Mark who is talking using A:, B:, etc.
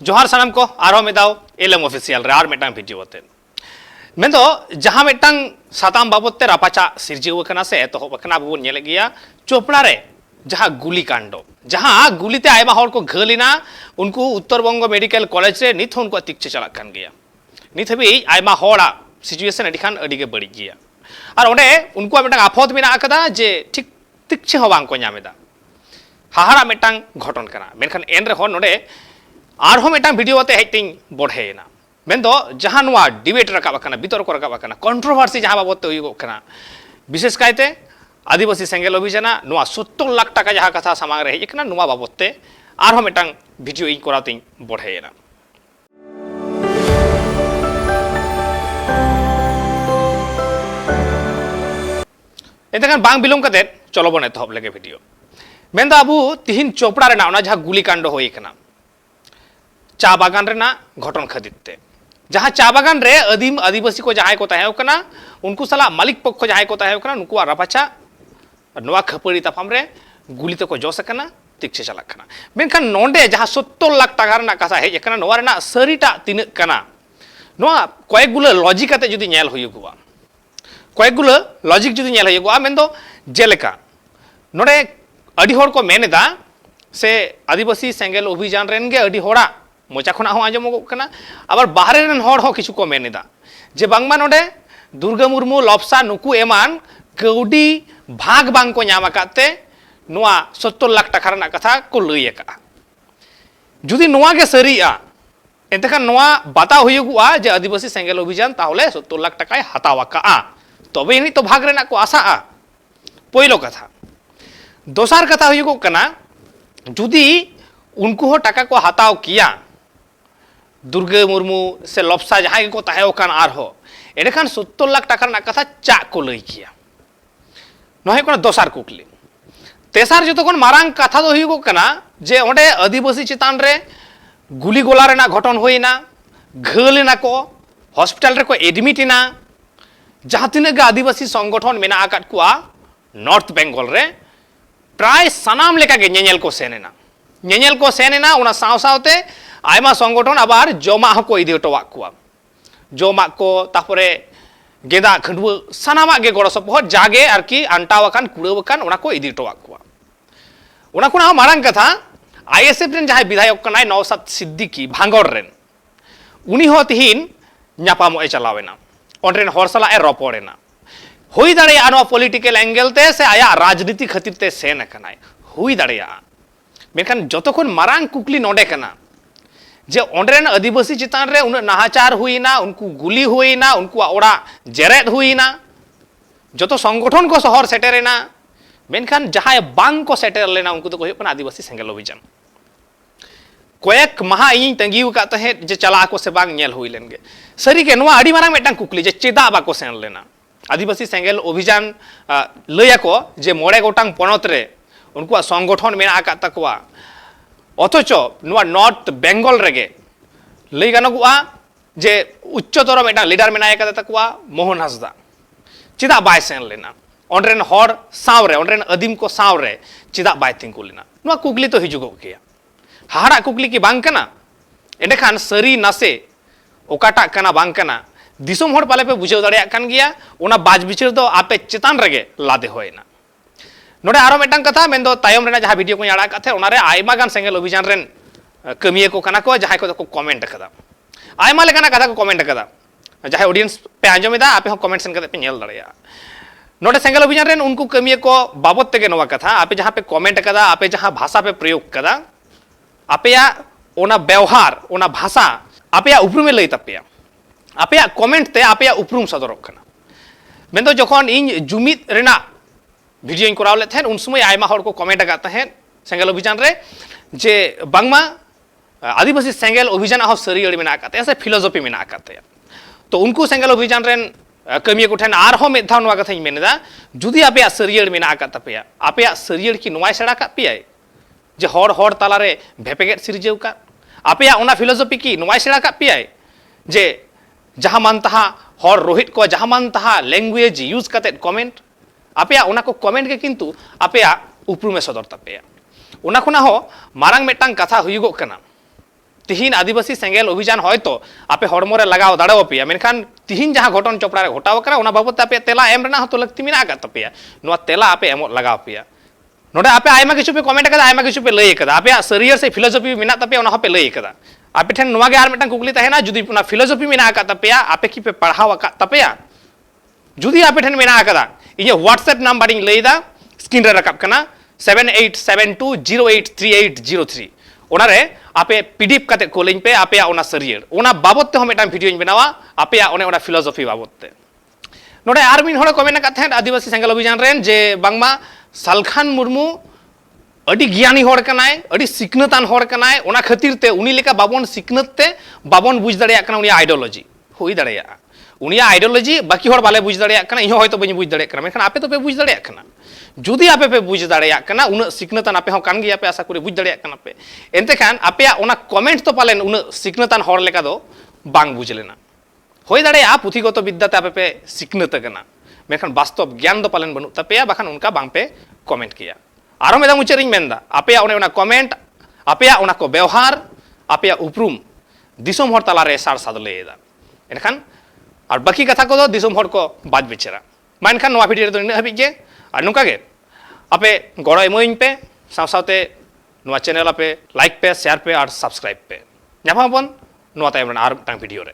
A: ᱡᱚᱦᱟᱨ ᱥᱟᱱᱟᱢ ᱠᱚ ᱟᱨᱦᱚᱸ ᱢᱤᱫ ᱫᱷᱟᱣ ᱮᱞᱮᱢ ᱚᱯᱷᱤᱥᱤᱭᱟᱞ ᱨᱮ ᱟᱨ ᱢᱤᱫᱴᱟᱝ ᱵᱷᱤᱰᱤᱭᱳ ᱟᱛᱮ ᱢᱮᱱᱫᱚ ᱡᱟᱦᱟᱸ ᱢᱤᱫᱴᱟᱝ ᱥᱟᱛᱟᱢ ᱵᱟᱵᱚᱫ ᱛᱮ ᱨᱟᱯᱟᱪᱟᱜ ᱥᱤᱨᱡᱟᱹᱣ ᱟᱠᱟᱱᱟ ᱥᱮ ᱮᱛᱚᱦᱚᱵ ᱟᱠᱟᱱᱟ ᱟᱵᱚ ᱵᱚᱱ ᱧᱮᱞᱮᱫ ᱜᱮᱭᱟ ᱪᱳᱯᱲᱟ ᱨᱮ ᱡᱟᱦᱟᱸ ᱜᱩᱞᱤ ᱠᱟᱱᱰᱚ ᱡᱟᱦᱟᱸ ᱜᱩᱞᱤ ᱛᱮ ᱟᱭᱢᱟ ᱦᱚᱲ ᱠᱚ ᱜᱷᱟᱹᱞ ᱮᱱᱟ ᱩᱱᱠᱩ ᱩᱛᱛᱚᱨ ᱵᱚᱝᱜᱚ ᱢᱮᱰᱤᱠᱮᱞ ᱠᱚᱞᱮᱡᱽ ᱨᱮ ᱱᱤᱛ ᱦᱚᱸ ᱩᱱᱠᱩᱣᱟᱜ ᱛᱤᱠᱪᱷᱟᱹ ᱪᱟᱞᱟᱜ ᱠᱟᱱ ᱜᱮᱭᱟ ᱱᱤᱛ ᱦᱟᱹᱵᱤᱡ ᱟᱭᱢᱟ ᱦᱚᱲᱟᱜ ᱥᱤᱪᱩᱭᱮᱥᱚᱱ ᱟᱹᱰᱤ ᱠᱷᱟᱱ ᱟᱹᱰᱤ ᱜᱮ ᱵᱟᱹᱲᱤᱡ ᱜᱮᱭᱟ ᱟᱨ ᱚᱸᱰᱮ ᱩᱱᱠᱩᱣᱟᱜ ᱢᱤᱫᱴᱟᱝ ᱟᱯᱷᱚᱛ ᱢᱮᱱᱟᱜ ᱟᱠᱟᱫᱟ ᱡᱮ ᱴᱷᱤᱠ ᱛᱤᱠᱪᱷᱟᱹ ᱦᱚᱸ ᱵᱟᱝ ᱠᱚ ᱧᱟᱢ ᱮᱫᱟ ᱦᱟᱦᱟᱲᱟ ᱢᱤᱫᱴᱟᱝ ᱜᱷᱚᱴᱚᱱ ᱠᱟᱱᱟ ᱢᱮᱱᱠᱷᱟᱱ ᱮᱱ ᱨᱮᱦᱚᱸ ᱱᱚᱰᱮ ᱟᱨᱦᱚᱸ ᱢᱤᱫᱴᱟᱝ ᱵᱷᱤᱰᱤᱭᱳ ᱟᱛᱮ ᱦᱮᱡ ᱛᱤᱧ ᱵᱚᱲᱦᱮᱭᱮᱱᱟ ᱢᱮᱱᱫᱚ ᱡᱟᱦᱟᱸ ᱱᱚᱣᱟ ᱰᱤᱵᱮᱴ ᱨᱟᱠᱟᱵ ᱟᱠᱟᱱᱟ ᱵᱤᱛᱚᱨᱠᱚ ᱨᱟᱠᱟᱵ ᱟᱠᱟᱱᱟ ᱠᱚᱱᱴᱨᱳᱵᱷᱟᱨᱥᱤ ᱡᱟᱦᱟᱸ ᱵᱟᱵᱚᱫ ᱛᱮ ᱦᱩᱭᱩᱜᱚᱜ ᱠᱟᱱᱟ ᱵᱤᱥᱮᱥ ᱠᱟᱭᱛᱮ ᱟᱹᱫᱤᱵᱟᱹᱥᱤ ᱥᱮᱸᱜᱮᱞ ᱚᱵᱷᱤᱡᱟᱱᱟ ᱱᱚᱣᱟ ᱥᱚᱛᱛᱚᱨ ᱞᱟᱠᱷ ᱴᱟᱠᱟ ᱡᱟᱦᱟᱸ ᱠᱟᱛᱷᱟ ᱥᱟᱢᱟᱝ ᱨᱮ ᱦᱮᱡ ᱟᱠᱟᱱᱟ ᱱᱚᱣᱟ ᱵᱟᱵᱚᱫ ᱛᱮ ᱟᱨᱦᱚᱸ ᱢᱤᱫᱴᱟᱝ ᱵᱷᱤᱰᱤᱭᱳ ᱤᱧ ᱠᱚᱨᱟᱣ ᱛᱤᱧ ᱵᱚᱲᱦᱮᱭᱮᱱᱟ ᱮᱱᱛᱮᱠᱷᱟᱱ ᱵᱟᱝ ᱵᱤᱞᱚᱢ ᱠᱟᱛᱮ ᱪᱚᱞᱚ ᱵᱚᱱ ᱮᱛᱚᱦᱚᱵ ᱞᱮᱜᱮ ᱵᱷᱤᱰᱤᱭᱳ ᱢᱮᱱᱫᱟ ᱟᱵᱚ ᱛᱤᱦᱤᱧ ᱪᱚᱯᱲᱟ ᱨᱮᱱᱟᱜ ᱚᱱᱟ ᱡᱟᱦᱟᱸ ᱜᱩᱞᱤ ᱠᱟᱸᱰᱚ ᱦᱩᱭ ᱟᱠᱟᱱᱟ ᱪᱟ ᱵᱟᱜᱟᱱ ᱨᱮᱱᱟᱜ ᱜᱷᱚᱴᱚᱱ ᱠᱷᱟᱹᱛᱤᱨ ᱛᱮ ᱡᱟᱦᱟᱸ ᱪᱟ ᱵᱟᱜᱟᱱ ᱨᱮ ᱟᱹᱫᱤᱢ ᱟᱹᱫᱤᱵᱟᱹᱥᱤ ᱠᱚ ᱡᱟᱦᱟᱸᱭ ᱠᱚ ᱛᱟᱦᱮᱸ ᱠᱟᱱᱟ ᱩᱱᱠᱩ ᱥᱟᱞᱟᱜ ᱢᱟᱹᱞᱤᱠ ᱯᱚᱠᱠᱷᱚ ᱡᱟᱦᱟᱸᱭ ᱠᱚ ᱛᱟᱦᱮᱸ ᱠᱟᱱᱟ ᱱᱩᱠᱩᱣᱟᱜ ᱨᱟᱯᱟᱪᱟᱜ ᱱᱚᱣᱟ ᱠᱷᱟᱹᱯᱟᱹᱨᱤ ᱛᱟᱯᱟᱢ ᱨᱮ ᱜᱩᱞᱤ ᱛᱮᱠᱚ ᱡᱚᱥ ᱟᱠᱟᱱᱟ ᱛᱤᱠᱪᱷᱮ ᱪᱟᱞᱟᱜ ᱠᱟᱱᱟ ᱢᱮᱱᱠᱷᱟᱱ ᱱᱚᱰᱮ ᱡᱟᱦᱟᱸ ᱥᱚᱛᱛᱚᱨ ᱞᱟᱠᱷ ᱴᱟᱠᱟ ᱨᱮᱱᱟᱜ ᱠᱟᱛᱷᱟ ᱦᱮᱡ ᱟᱠᱟᱱᱟ ᱱᱚᱣᱟ ᱨᱮᱱᱟᱜ ᱥᱟᱹᱨᱤᱴᱟᱜ ᱛᱤᱱᱟᱹᱜ ᱠᱟᱱᱟ ᱱᱚᱣᱟ ᱠᱚᱭᱮᱠ ᱜᱩᱞᱟᱹ ᱞᱚᱡᱤᱠ ᱟᱛᱮ ᱡᱩᱫᱤ ᱧᱮᱞ ᱦᱩᱭᱩᱜᱚᱜᱼᱟ ᱠᱚᱭᱮᱠ ᱜᱩᱞᱟᱹ ᱞᱚᱡᱤᱠ ᱡᱩᱫᱤ ᱧᱮᱞ ᱦᱩᱭᱩᱜᱚᱜᱼᱟ ᱢᱮᱱᱫᱚ ᱡᱮᱞᱮᱠᱟ ᱱᱚᱰᱮ ᱟᱹᱰᱤ ᱦᱚᱲ ᱠᱚ ᱢᱮᱱ ᱮᱫᱟ ᱥᱮ ᱟᱹᱫᱤᱵᱟᱹᱥᱤ ᱥᱮᱸᱜᱮᱞ ᱚᱵᱷᱤᱡᱟᱱ ᱨᱮᱱ ᱜᱮ ᱟᱹᱰᱤ ᱦᱚᱲᱟᱜ ᱢᱚᱪᱟ ᱠᱷᱚᱱᱟᱜ ᱦᱚᱸ ᱟᱸᱡᱚᱢᱚᱜᱚᱜ ᱠᱟᱱᱟ ᱟᱵᱟᱨ ᱵᱟᱦᱨᱮ ᱨᱮᱱ ᱦᱚᱲ ᱦᱚᱸ ᱠᱤᱪᱷᱩ ᱠᱚ ᱢᱮᱱ ᱮᱫᱟ ᱡᱮ ᱵᱟᱝᱢᱟ ᱱᱚᱰᱮ ᱫᱩᱨᱜᱟ ᱢᱩᱨᱢᱩ ᱞᱚᱯᱥᱟ ᱱᱩᱠᱩ ᱮᱢᱟᱱ ᱠᱟᱹᱣᱰᱤ ᱵᱷᱟᱜᱽ ᱵᱟᱝ ᱠᱚ ᱧᱟᱢ ᱟᱠᱟᱫ ᱛᱮ ᱱᱚᱣᱟ ᱥᱚᱛᱛᱚᱨ ᱞᱟᱠᱷ ᱴᱟᱠᱟ ᱨᱮᱱᱟᱜ ᱠᱟᱛᱷᱟ ᱠᱚ ᱞᱟᱹᱭ ᱟᱠᱟᱫᱼᱟ ᱡᱩᱫᱤ ᱱᱚᱣᱟ ᱜᱮ ᱥᱟᱹᱨᱤᱜᱼᱟ ᱮᱱᱛᱮᱠᱷᱟᱱ ᱱᱚᱣᱟ ᱵᱟᱛᱟᱣ ᱦᱩᱭᱩᱜᱚᱜᱼᱟ ᱡᱮ ᱟᱹᱫᱤᱵᱟᱹᱥᱤ ᱥᱮᱸᱜᱮᱞ ᱚᱵᱷᱤᱡᱟᱱ ᱛᱟᱦᱚᱞᱮ ᱥᱚᱛᱛᱚᱨ ᱞᱟᱠᱷ ᱴᱟᱠᱟᱭ ᱦᱟᱛᱟᱣ ᱟᱠᱟᱫᱼᱟ ᱛᱚᱵᱮ ᱟᱹᱱᱤᱡ ᱛᱚ ᱵᱷᱟᱜᱽ ᱨᱮᱱᱟᱜ ᱠᱚ ᱟᱥᱟᱜᱼᱟ ᱯᱳᱭᱞᱳ ᱠᱟᱛᱷᱟ ᱫᱚᱥᱟᱨ ᱠᱟᱛᱷᱟ ᱦᱩᱭᱩᱜᱚᱜ ᱠᱟᱱᱟ ᱡᱩᱫᱤ ᱩᱱᱠᱩ ᱦᱚᱸ ᱴᱟᱠᱟ ᱠᱚ ᱦᱟᱛᱟᱣ ᱠᱮᱭᱟ ᱫᱩᱨᱜᱟᱹ ᱢᱩᱨᱢᱩ ᱥᱮ ᱞᱚᱯᱥᱟ ᱡᱟᱦᱟᱸᱭ ᱜᱮᱠᱚ ᱛᱟᱦᱮᱸ ᱟᱠᱟᱱ ᱟᱨᱦᱚᱸ ᱮᱸᱰᱮᱠᱷᱟᱱ ᱥᱳᱛᱛᱚᱨ ᱞᱟᱠᱷ ᱴᱟᱠᱟ ᱨᱮᱱᱟᱜ ᱠᱟᱛᱷᱟ ᱪᱟᱜ ᱠᱚ ᱞᱟᱹᱭ ᱠᱮᱭᱟ ᱱᱚᱣᱟ ᱦᱩᱭᱩᱜ ᱠᱟᱱᱟ ᱫᱚᱥᱟᱨ ᱠᱩᱠᱞᱤ ᱛᱮᱥᱟᱨ ᱡᱚᱛᱚ ᱠᱷᱚᱱ ᱢᱟᱨᱟᱝ ᱠᱟᱛᱷᱟ ᱫᱚ ᱦᱩᱭᱩᱜᱚᱜ ᱠᱟᱱᱟ ᱡᱮ ᱚᱸᱰᱮ ᱟᱹᱫᱤᱵᱟᱹᱥᱤ ᱪᱮᱛᱟᱱ ᱨᱮ ᱜᱩᱞᱤ ᱜᱚᱞᱟ ᱨᱮᱱᱟᱜ ᱜᱷᱚᱴᱚᱱ ᱦᱩᱭᱱᱟ ᱜᱷᱟᱹᱞ ᱮᱱᱟ ᱠᱚ ᱦᱚᱥᱯᱤᱴᱟᱞ ᱨᱮᱠᱚ ᱮᱰᱢᱤᱴ ᱮᱱᱟ ᱡᱟᱦᱟᱸ ᱛᱤᱱᱟᱹᱜ ᱜᱮ ᱟᱹᱫᱤᱵᱟᱹᱥᱤ ᱥᱚᱝᱜᱚᱴᱷᱚᱱ ᱢᱮᱱᱟᱜ ᱟᱠᱟᱫ ᱠᱚᱣᱟ ᱱᱚᱨᱛᱷ ᱵᱮᱝᱜᱚᱞ ᱨᱮ ᱯᱨᱟᱭ ᱥᱟᱱᱟᱢ ᱞᱮᱠᱟ ᱜᱮ ᱧᱮᱧᱮᱞ ᱠᱚ ᱥᱮᱱ ᱮᱱᱟ ᱧᱮᱧᱮᱞ ᱠᱚ ᱥᱮᱱ ᱮᱱᱟ ᱚᱱᱟ ᱥᱟᱶ ᱥᱟᱶᱛᱮ ᱟᱭᱢᱟ ᱥᱚᱝᱜᱚᱴᱷᱚᱱ ᱟᱵᱟᱨ ᱡᱚᱢᱟᱜ ᱦᱚᱸᱠᱚ ᱤᱫᱤ ᱦᱚᱴᱚᱣᱟᱜ ᱠᱚᱣᱟ ᱡᱚᱢᱟᱜ ᱠᱚ ᱛᱟᱯᱚᱨᱮ ᱜᱮᱫᱟᱜ ᱠᱷᱟᱹᱰᱩᱣᱟᱹ ᱥᱟᱱᱟᱢᱟᱜ ᱜᱮ ᱜᱚᱲᱚ ᱥᱚᱯᱚᱦᱚᱫ ᱡᱟᱜᱮ ᱟᱨᱠᱤ ᱟᱱᱴᱟᱣ ᱟᱠᱟᱱ ᱠᱩᱲᱟᱹᱣ ᱟᱠᱟᱱ ᱚᱱᱟ ᱠᱚ ᱤᱫᱤ ᱦᱚᱴᱚᱣᱟᱜ ᱠᱚᱣᱟ ᱚᱱᱟ ᱠᱷᱚᱱᱟᱜ ᱦᱚᱸ ᱢᱟᱲᱟᱝ ᱠᱟᱛᱷᱟ ᱟᱭᱮᱥᱮᱯᱷ ᱨᱮᱱ ᱡᱟᱦᱟᱸᱭ ᱵᱤᱫᱷᱟᱭᱚᱠ ᱠᱟᱱᱟᱭ ᱱᱚᱣᱥᱟᱫ ᱥᱤᱫᱫᱤᱠᱤ ᱵᱷᱟᱸᱜᱚᱲ ᱨᱮᱱ ᱩᱱᱤ ᱦᱚᱸ ᱛᱤᱦᱤᱧ ᱧᱟᱯᱟᱢᱚᱜ ᱮ ᱪᱟᱞᱟᱣ ᱮᱱᱟ ᱚᱸᱰᱮᱱ ᱦᱚᱲ ᱥᱟᱞᱟᱜ ᱮ ᱨᱚᱯᱚᱲ ᱮᱱᱟ ᱦᱩᱭ ᱫᱟᱲᱮᱭᱟᱜᱼᱟ ᱱᱚᱣᱟ ᱯᱚᱞᱤᱴᱤᱠᱮᱞ ᱮᱝᱜᱮᱞ ᱛᱮ ᱥᱮ ᱟᱭᱟᱜ ᱨᱟᱡᱽᱱᱤᱛᱤ ᱠᱷᱟᱹᱛᱤᱨ ᱛᱮ ᱥᱮᱱ ᱟᱠᱟᱱᱟᱭ ᱦᱩᱭ ᱫᱟᱲᱮᱭᱟᱜᱼᱟ ᱢᱮᱱᱠᱷᱟᱱ ᱡᱚᱛᱚ ᱠᱷᱚᱱ ᱢᱟᱨᱟᱝ ᱠᱩᱠᱞᱤ ᱱᱚᱰᱮ ᱠᱟᱱᱟ ᱡᱮ ᱚᱸᱰᱮᱱ ᱟᱹᱫᱤᱵᱟᱹᱥᱤ ᱪᱮᱛᱟᱱ ᱨᱮ ᱩᱱᱟᱹᱜ ᱱᱟᱦᱟᱪᱟᱨ ᱦᱩᱭᱱᱟ ᱩᱱᱠᱩ ᱜᱩᱞᱤ ᱦᱩᱭᱱᱟ ᱩᱱᱠᱩᱣᱟᱜ ᱚᱲᱟᱜ ᱡᱮᱨᱮᱫ ᱦᱩᱭᱱᱟ ᱡᱚᱛᱚ ᱥᱚᱝᱜᱚᱴᱷᱚᱱ ᱠᱚ ᱥᱚᱦᱚᱨ ᱥᱮᱴᱮᱨᱮᱱᱟ ᱢᱮᱱᱠᱷᱟᱱ ᱡᱟᱦᱟᱸᱭ ᱵᱟᱝ ᱠᱚ ᱥᱮᱴᱮᱨ ᱞᱮᱱᱟ ᱩᱱᱠᱩ ᱫᱚᱠᱚ ᱦᱩᱭᱩᱜ ᱠᱟᱱᱟ ᱟᱹᱫᱤᱵᱟᱹᱥᱤ ᱥᱮᱸᱜᱮᱞ ᱚᱵᱷᱤᱡᱟᱱ ᱠᱚᱭᱮᱠ ᱢᱟᱦᱟ ᱤᱧᱤᱧ ᱛᱟᱺᱜᱤ ᱟᱠᱟᱫ ᱛᱟᱦᱮᱸᱫ ᱡᱮ ᱪᱟᱞᱟᱜ ᱟᱠᱚ ᱥᱮ ᱵᱟᱝ ᱧᱮᱞ ᱦᱩᱭ ᱞᱮᱱ ᱜᱮ ᱥᱟᱹᱨᱤᱜᱮ ᱱᱚᱣᱟ ᱟᱹᱰᱤ ᱢᱟᱨᱟᱝ ᱢᱤᱫᱴᱟᱝ ᱠᱩᱠᱞᱤ ᱡᱮ ᱪᱮᱫᱟᱜ ᱵᱟᱠᱚ ᱥᱮᱱ ᱞᱮᱱᱟ ᱟᱹᱫᱤᱵᱟᱹᱥᱤ ᱥᱮᱸᱜᱮᱞ ᱚᱵᱷᱤᱡᱟᱱ ᱞᱟᱹᱭ ᱟᱠᱚ ᱡᱮ ᱢᱚᱬᱮ ᱜᱚᱴᱟᱝ ᱯᱚᱱᱚᱛ ᱨᱮ ᱩᱱᱠᱩᱣᱟᱜ ᱥᱚᱝᱜᱚᱴᱷᱚᱱ ᱢᱮᱱᱟᱜ ᱟᱠᱟᱫ ᱛᱟᱠᱚᱣᱟ ᱚᱛᱷᱚᱪᱚ ᱱᱚᱣᱟ ᱱᱚᱨᱛᱷ ᱵᱮᱝᱜᱚᱞ ᱨᱮᱜᱮ ᱞᱟᱹᱭ ᱜᱟᱱᱚᱜᱼᱟ ᱡᱮ ᱩᱪᱪᱚᱛᱚᱨ ᱢᱤᱫᱴᱟᱝ ᱞᱤᱰᱟᱨ ᱢᱮᱱᱟᱭ ᱟᱠᱟᱫ ᱛᱟᱠᱚᱣᱟ ᱢᱳᱦᱚᱱ ᱦᱟᱸᱥᱫᱟ ᱪᱮᱫᱟᱜ ᱵᱟᱭ ᱥᱮᱱ ᱞᱮᱱᱟ ᱚᱸᱰᱮᱨᱮᱱ ᱦᱚᱲ ᱥᱟᱶᱨᱮ ᱚᱸᱰᱮᱨᱮᱱ ᱟᱹᱫᱤᱢ ᱠᱚ ᱥᱟᱶᱨᱮ ᱪᱮᱫᱟᱜ ᱵᱟᱭ ᱛᱤᱸᱜᱩ ᱞᱮᱱᱟ ᱱᱚᱣᱟ ᱠᱩᱠᱞᱤ ᱛᱚ ᱦᱤᱡᱩᱜᱚᱜ ᱜᱮᱭᱟ ᱦᱟᱦᱟᱲᱟᱜ ᱠᱩᱠᱞᱤ ᱠᱤ ᱵᱟᱝ ᱠᱟᱱᱟ ᱮᱸᱰᱮᱠᱷᱟᱱ ᱥᱟᱹᱨᱤ ᱱᱟᱥᱮ ᱚᱠᱟᱴᱟᱜ ᱠᱟᱱᱟ ᱵᱟᱝ ᱠᱟᱱᱟ ᱫᱤᱥᱚᱢ ᱦᱚᱲ ᱯᱟᱞᱮ ᱯᱮ ᱵᱩᱡᱷᱟᱹᱣ ᱫᱟᱲᱮᱭᱟᱜ ᱠᱟᱱ ᱜᱮᱭᱟ ᱚᱱᱟ ᱵᱟᱡᱽ ᱵᱤᱪᱟᱹᱨ ᱫᱚ ᱟᱯᱮ ᱪᱮᱛᱟᱱ ᱨᱮᱜᱮ ᱞᱟᱫᱮ ᱦᱩᱭᱮᱱᱟ ᱱᱚᱰᱮ ᱟᱨᱚ ᱢᱤᱫᱴᱟᱝ ᱠᱟᱛᱷᱟ ᱢᱮᱱᱫᱚ ᱛᱟᱭᱚᱢ ᱨᱮᱱᱟᱜ ᱡᱟᱦᱟᱸ ᱵᱷᱤᱰᱤᱭᱳ ᱠᱚᱧ ᱟᱲᱟᱜ ᱟᱠᱟᱫ ᱛᱟᱦᱮᱸᱫ ᱚᱱᱟᱨᱮ ᱟᱭᱢᱟ ᱜᱟᱱ ᱥᱮᱸᱜᱮᱞ ᱚᱵᱷᱤᱡᱟᱱ ᱨᱮᱱ ᱠᱟᱹᱢᱤᱭᱟᱹ ᱠᱚ ᱠᱟᱱᱟ ᱠᱚ ᱡᱟᱦᱟᱸᱭ ᱠᱚᱫᱚ ᱠᱚ ᱠᱚᱢᱮᱱᱴ ᱟᱠᱟᱫᱟ ᱟᱭᱢᱟ ᱞᱮᱠᱟᱱᱟᱜ ᱠᱟᱛᱷᱟ ᱠᱚ ᱠᱚᱢᱮᱱᱴ ᱟᱠᱟᱫᱟ ᱡᱟᱦᱟᱸᱭ ᱚᱰᱤᱭᱮᱱᱥ ᱯᱮ ᱟᱸᱡᱚᱢ ᱮᱫᱟ ᱟᱯᱮ ᱦᱚᱸ ᱠᱚᱢᱮᱱᱴ ᱥᱮᱱ ᱠᱟᱛᱮ ᱯᱮ ᱧᱮᱞ ᱫᱟᱲᱮᱭᱟᱜᱼᱟ ᱱᱚᱰᱮ ᱥᱮᱸᱜᱮᱞ ᱚᱵᱷᱤᱡᱟᱱ ᱨᱮᱱ ᱩᱱᱠᱩ ᱠᱟᱹᱢᱤᱭᱟᱹ ᱠᱚ ᱵᱟᱵᱚᱫ ᱛᱮᱜᱮ ᱱᱚᱣᱟ ᱠᱟᱛᱷᱟ ᱟᱯᱮ ᱡᱟᱦᱟᱸ ᱯᱮ ᱠᱚᱢᱮᱱᱴ ᱟᱠᱟᱫᱟ ᱟᱯᱮ ᱡᱟᱦᱟᱸ ᱵᱷᱟᱥᱟ ᱯᱮ ᱯᱨᱚᱭᱳᱜ ᱟᱠᱟᱫᱟ ᱟᱯᱮᱭᱟᱜ ᱚᱱᱟ ᱵᱮᱣᱦᱟᱨ ᱚᱱᱟ ᱵᱷᱟᱥᱟ ᱟᱯᱮᱭᱟᱜ ᱩᱯᱨᱩᱢᱮ ᱞᱟᱹᱭ ᱛᱟᱯᱮᱭᱟ ᱟᱯᱮᱭᱟᱜ ᱠᱚᱢᱮᱱᱴ ᱛᱮ ᱟᱯᱮᱭᱟᱜ ᱩᱯᱨᱩᱢ ᱥᱚᱫᱚᱨᱚᱜ ᱠᱟᱱᱟ ᱢᱮᱱᱫᱚ ᱡᱚᱠᱷᱚᱱ ᱤᱧ ᱡᱩᱢᱤᱫ ᱨᱮᱱᱟᱜ ᱵᱷᱤᱰᱤᱭᱳᱧ ᱠᱚᱨᱟᱣ ᱞᱮᱫ ᱛᱟᱦᱮᱸᱫ ᱩᱱ ᱥᱚᱢᱚᱭ ᱟᱭᱢᱟ ᱦᱚᱲ ᱠᱚ ᱠᱚᱢᱮᱱᱴ ᱟᱠᱟᱫ ᱛᱟᱦᱮᱸᱫ ᱥᱮᱸᱜᱮᱞ ᱚᱵᱷᱤᱡᱟᱱ ᱨᱮ ᱡᱮ ᱵᱟᱝᱢᱟ ᱟᱹᱫᱤᱵᱟᱹᱥᱤ ᱥᱮᱸᱜᱮᱞ ᱚᱵᱷᱤᱡᱟᱱ ᱦᱚᱸ ᱥᱟᱹᱨᱤᱭᱟᱹᱲ ᱢᱮᱱᱟᱜ ᱟᱠᱟᱫ ᱛᱟᱭᱟ ᱥᱮ ᱯᱷᱤᱞᱳᱡᱚᱯᱷᱤ ᱢᱮᱱᱟᱜ ᱟᱠᱟᱫ ᱛᱟᱭᱟ ᱛᱚ ᱩᱱᱠᱩ ᱥᱮᱸᱜᱮᱞ ᱚᱵᱷᱤᱡᱟᱱ ᱨᱮᱱ ᱠᱟᱹᱢᱤᱭᱟᱹ ᱠᱚᱴᱷᱮᱱ ᱟᱨᱦᱚᱸ ᱢᱤᱫ ᱫᱷᱟᱣ ᱱᱚᱣᱟ ᱠᱟᱛᱷᱟᱧ ᱢᱮᱱᱮᱫᱟ ᱡᱩᱫᱤ ᱟᱯᱮᱭᱟᱜ ᱥᱟᱹᱨᱤᱭᱟᱹᱲ ᱢᱮᱱᱟᱜ ᱟᱠᱟᱫ ᱛᱟᱯᱮᱭᱟ ᱟᱯᱮᱭᱟᱜ ᱥᱟᱹᱨᱤᱭᱟᱹᱲ ᱠᱤ ᱱᱚᱣᱟᱭ ᱥᱮᱬᱟ ᱠᱟᱜ ᱯᱮᱭᱟᱭ ᱡᱮ ᱦᱚᱲ ᱦᱚᱲ ᱛᱟᱞᱟᱨᱮ ᱵᱷᱮᱯᱮᱜᱮᱫ ᱥᱤᱨᱡᱟᱹᱣ ᱠᱟᱜ ᱟᱯᱮᱭᱟᱜ ᱚᱱᱟ ᱯᱷᱤᱞᱳᱡᱚᱯᱷᱤ ᱠᱤ ᱱᱚᱣᱟᱭ ᱥᱮᱬᱟ ᱠᱟᱜ ᱯᱮᱭᱟᱭ ᱡᱮ ᱡᱟᱦᱟᱸ ᱢᱟᱱ ᱛᱟᱦᱟᱸ ᱦᱚᱲ ᱨᱳᱦᱤᱛ ᱠᱚ ᱡᱟᱦᱟᱸ ᱢᱟᱱ ᱛᱟᱦᱟᱸ ᱞᱮᱝᱜᱩᱭᱮᱡᱽ ᱤᱭᱩᱡᱽ ᱠᱟᱛᱮᱫ ᱠᱚᱢᱮᱱᱴ ᱟᱯᱮᱭᱟᱜ ᱚᱱᱟ ᱠᱚ ᱠᱚᱢᱮᱱᱴ ᱜᱮ ᱠᱤᱱᱛᱩ ᱟᱯᱮᱭᱟᱜ ᱩᱯᱨᱩᱢ ᱮ ᱥᱚᱫᱚᱨ ᱛᱟᱯᱮᱭᱟ ᱚᱱᱟ ᱠᱷᱚᱱᱟᱜ ᱦᱚᱸ ᱢᱟᱨᱟᱝ ᱢᱤᱫᱴᱟᱝ ᱠᱟᱛᱷᱟ ᱦᱩᱭᱩᱜᱚᱜ ᱠᱟᱱᱟ ᱛᱤᱦᱤᱧ ᱟᱹᱫᱤᱵᱟᱹᱥᱤ ᱥᱮᱸᱜᱮᱞ ᱚᱵᱷᱤᱡᱟᱱ ᱦᱚᱭᱛᱚ ᱟᱯᱮ ᱦᱚᱲᱢᱚ ᱨᱮ ᱞᱟᱜᱟᱣ ᱫᱟᱲᱮ ᱟᱯᱮᱭᱟ ᱢᱮᱱᱠᱷᱟᱱ ᱛᱤᱦᱤᱧ ᱡᱟᱦᱟᱸ ᱜᱷᱚᱴᱚᱱ ᱪᱚᱯᱲᱟ ᱨᱮ ᱜᱷᱚᱴᱟᱣ ᱟᱠᱟᱱᱟ ᱚᱱᱟ ᱵᱟᱵᱚᱛ ᱛᱮ ᱟᱯᱮ ᱛᱮᱞᱟ ᱮᱢ ᱨᱮᱱᱟᱜ ᱦᱚᱸᱛᱚ ᱞᱟᱹᱠᱛᱤ ᱢᱮᱱᱟᱜ ᱟᱠᱟᱫ ᱛᱟᱯᱮᱭᱟ ᱱᱚᱣᱟ ᱛᱮᱞᱟ ᱟᱯᱮ ᱮᱢᱚᱜ ᱞᱟᱜᱟᱣ ᱯᱮᱭᱟ ᱱᱚᱰᱮ ᱟᱯᱮ ᱟᱭᱢᱟ ᱠᱤᱪᱷᱩ ᱯᱮ ᱠᱚᱢᱮᱱᱴ ᱟᱠᱟᱫᱟ ᱟᱭᱢᱟ ᱠᱤᱪᱷᱩ ᱯᱮ ᱞᱟᱹᱭ ᱟᱠᱟᱫᱟ ᱟᱯᱮᱭᱟᱜ ᱥᱟᱹᱨᱤᱭᱟᱹᱨ ᱥᱮ ᱯᱷᱤᱞᱳᱡᱚᱯᱷᱤ ᱢᱮᱱᱟᱜ ᱛᱟᱯᱮᱭᱟ ᱚᱱᱟ ᱦᱚᱸ ᱯᱮ ᱞᱟᱹᱭ ᱟᱠᱟᱫᱟ ᱟᱯᱮ ᱴᱷᱮᱱ ᱱᱚᱣᱟ ᱜᱮ ᱟᱨ ᱢᱤᱫᱴᱟᱝ ᱠᱩᱠᱞᱤ ᱛᱟᱦᱮᱱᱟ ᱡᱩᱫᱤ ᱚᱱᱟ ᱯᱷᱤᱞᱳᱡᱚᱯᱷᱤ ᱢᱮᱱᱟᱜ ᱟᱠᱟᱫ ᱛᱟᱯᱮᱭᱟ ᱟᱯᱮ ᱠᱤ ᱯᱮ ᱯᱟᱲᱦᱟᱣ ᱟᱠᱟᱫ ᱛᱟᱯᱮᱭᱟ ᱡᱩᱫᱤ ᱟᱯᱮ ᱴᱷᱮᱱ ᱢᱮᱱᱟᱜ ᱟᱠᱟᱫᱟ ᱤᱧᱟᱹᱜ ᱦᱳᱣᱟᱴᱥᱮᱯ ᱱᱟᱢᱵᱟᱨ ᱤᱧ ᱞᱟᱹᱭᱫᱟ ᱥᱠᱨᱤᱱ ᱨᱮ ᱨᱟᱠᱟᱵ ᱠᱟᱱᱟ seven eight seven two zero eight three eight zero three ᱚᱱᱟᱨᱮ ᱟᱯᱮ ᱯᱤᱰᱤᱯ ᱠᱟᱛᱮ ᱠᱳᱞᱤᱧ ᱯᱮ ᱟᱯᱮᱭᱟᱜ ᱚᱱᱟ ᱥᱟᱹᱨᱤᱭᱟᱹᱲ ᱚᱱᱟ ᱵᱟᱵᱚᱛ ᱛᱮᱦᱚᱸ ᱢᱤᱫᱴᱟᱝ ᱵᱷᱤᱰᱤᱭᱳᱧ ᱵᱮᱱᱟᱣᱟ ᱟᱯᱮᱭᱟᱜ ᱚᱱᱮ ᱚᱱᱟ ᱯᱷᱤᱞᱳᱥᱚᱯᱷᱤ ᱵᱟᱵᱚᱛ ᱛᱮ ᱱᱚᱰᱮ ᱟᱨ ᱢᱤᱫ ᱦᱚᱲ ᱠᱚ ᱢᱮᱱ ᱟᱠᱟᱫ ᱛᱟᱦᱮᱸᱫ ᱟᱹᱫᱤᱵᱟᱹᱥᱤ ᱥᱮᱸᱜᱮᱞ ᱚᱵᱷᱤᱡᱟᱱ ᱨᱮᱱ ᱡᱮ ᱵᱟᱝᱢᱟ ᱥᱟᱞᱠᱷᱟᱱ ᱢᱩᱨᱢᱩ ᱟᱹᱰᱤ ᱜᱮᱭᱟᱱᱤ ᱦᱚᱲ ᱠᱟᱱᱟᱭ ᱟᱹᱰᱤ ᱥᱤᱠᱷᱱᱟᱹᱛᱟᱱ ᱦᱚᱲ ᱠᱟᱱᱟᱭ ᱚᱱᱟ ᱠᱷᱟᱹᱛᱤᱨ ᱛᱮ ᱩᱱᱤ ᱞᱮᱠᱟ ᱵᱟᱵᱚᱱ ᱥᱤᱠᱷᱱᱟᱹᱛ ᱛᱮ ᱵᱟᱵᱚᱱ ᱵᱩᱡᱽ ᱫᱟᱲᱮᱭᱟᱜ ᱠᱟᱱᱟ ᱩᱱᱤᱭᱟᱜ ᱟᱭᱰᱤᱭᱳᱞᱚᱡᱤ ᱦᱩᱭ ᱫᱟᱲᱮᱭᱟᱜᱼᱟ ᱩᱱᱤᱭᱟᱜ ᱟᱭᱰᱤᱭᱳᱞᱚᱡᱤ ᱵᱟᱹᱠᱤ ᱦᱚᱲ ᱵᱟᱞᱮ ᱵᱩᱡᱽ ᱫᱟᱲᱮᱭᱟᱜ ᱠᱟᱱᱟ ᱤᱧ ᱦᱚᱸ ᱦᱚᱭᱛᱚ ᱵᱟᱹᱧ ᱵᱩᱡᱽ ᱫᱟᱲᱮᱭᱟᱜ ᱠᱟᱱᱟ ᱢᱮᱱᱠᱷᱟᱱ ᱟᱯᱮ ᱫᱚᱯᱮ ᱵᱩᱡᱽ ᱫᱟᱲᱮᱭᱟᱜ ᱠᱟᱱᱟ ᱡᱩᱫᱤ ᱟᱯᱮ ᱯᱮ ᱵᱩᱡᱽ ᱫᱟᱲᱮᱭᱟᱜ ᱠᱟᱱᱟ ᱩᱱᱟᱹᱜ ᱥᱤᱠᱷᱱᱟᱹᱛᱟᱱ ᱟᱯᱮ ᱦᱚᱸ ᱠᱟᱱ ᱜᱮᱭᱟ ᱯᱮ ᱟᱥᱟ ᱠᱚᱨᱮ ᱵᱩᱡᱽ ᱫᱟᱲᱮᱭᱟᱜ ᱠᱟᱱᱟ ᱯᱮ ᱮᱱᱛᱮ ᱠᱷᱟᱱ ᱟᱯᱮᱭᱟᱜ ᱚᱱᱟ ᱠᱚᱢᱮᱱᱴ ᱫᱚ ᱯᱟᱞᱮᱱ ᱩᱱᱟᱹᱜ ᱥᱤᱠᱷᱱᱟᱹᱛᱟᱱ ᱦᱚᱲ ᱞᱮᱠᱟ ᱫᱚ ᱵᱟᱝ ᱵᱩᱡᱽ ᱞᱮᱱᱟ ᱦᱳᱭ ᱫᱟᱲᱮᱭᱟᱜᱼᱟ ᱯᱩᱛᱷᱤᱜᱚᱛᱚ ᱵᱤᱫᱽᱫᱟ ᱛᱮ ᱟᱯᱮ ᱯᱮ ᱥᱤᱠᱷᱱᱟᱹᱛ ᱟᱠᱟᱱᱟ ᱢᱮᱱᱠᱷᱟᱱ ᱵᱟᱥᱛᱚᱵ ᱜᱮᱭᱟᱱ ᱫᱚ ᱯᱟᱞᱮᱱ ᱵᱟᱹᱱᱩᱜ ᱛᱟᱯᱮᱭᱟ ᱵᱟᱠᱷᱟᱱ ᱚᱱᱠᱟ ᱵᱟᱝ ᱯᱮ ᱠᱚᱢᱮᱱᱴ ᱠᱮᱭᱟ ᱟᱨᱚ ᱢᱤᱫ ᱫᱷᱟᱣ ᱢᱩᱪᱟᱹᱫ ᱨᱤᱧ ᱢᱮᱱᱫᱟ ᱟᱯᱮᱭᱟᱜ ᱚᱱᱮ ᱚᱱᱟ ᱠᱚᱢᱮᱱᱴ ᱟᱯᱮᱭᱟᱜ ᱚᱱᱟ ᱠᱚ ᱵᱮᱣᱦᱟᱨ ᱟᱯᱮᱭᱟᱜ ᱩᱯᱨᱩᱢ ᱫᱤᱥᱚᱢ ᱦᱚᱲ ᱛᱟᱞᱟ ᱨᱮ ᱥᱟᱨ ᱥᱟᱫ ᱞᱟᱹᱭ ᱮᱫᱟ ᱮᱱᱠᱷᱟᱱ ᱟᱨ ᱵᱟᱹᱠᱤ ᱠᱟᱛᱷᱟ ᱠᱚᱫᱚ ᱫᱤᱥᱚᱢ ᱦᱚᱲ ᱠᱚ ᱵᱟᱡᱽ ᱵᱤᱪᱟᱹᱨᱟ ᱢᱟ ᱮᱱᱠᱷᱟᱱ ᱱᱚᱣᱟ ᱵᱷᱤᱰᱤᱭᱳ ᱨᱮᱫᱚ ᱱᱤᱱᱟᱹᱜ ᱦᱟᱹᱵᱤᱡ ᱜᱮ ᱟᱨ ᱱᱚᱝᱠᱟ ᱜᱮ ᱟᱯᱮ ᱜᱚᱲᱚ ᱮᱢᱟᱹᱧ ᱯᱮ ᱥᱟᱶ ᱥᱟᱶᱛᱮ ᱱᱚᱣᱟ ᱪᱮᱱᱮᱞ ᱟᱯᱮ ᱞᱟᱭᱤᱠ ᱯᱮ ᱥᱮᱭᱟᱨ ᱯᱮ ᱟᱨ ᱥᱟᱵᱥᱠᱨᱟᱭᱤᱵ ᱯᱮ ᱧᱟᱯᱟᱢ ᱟᱵᱚᱱ ᱱᱚᱣᱟ ᱛᱟᱭᱚᱢ ᱨᱮᱱᱟᱜ ᱟᱨ ᱢᱤᱫᱴᱟᱝ ᱵᱷᱤᱰᱤᱭᱳ ᱨᱮ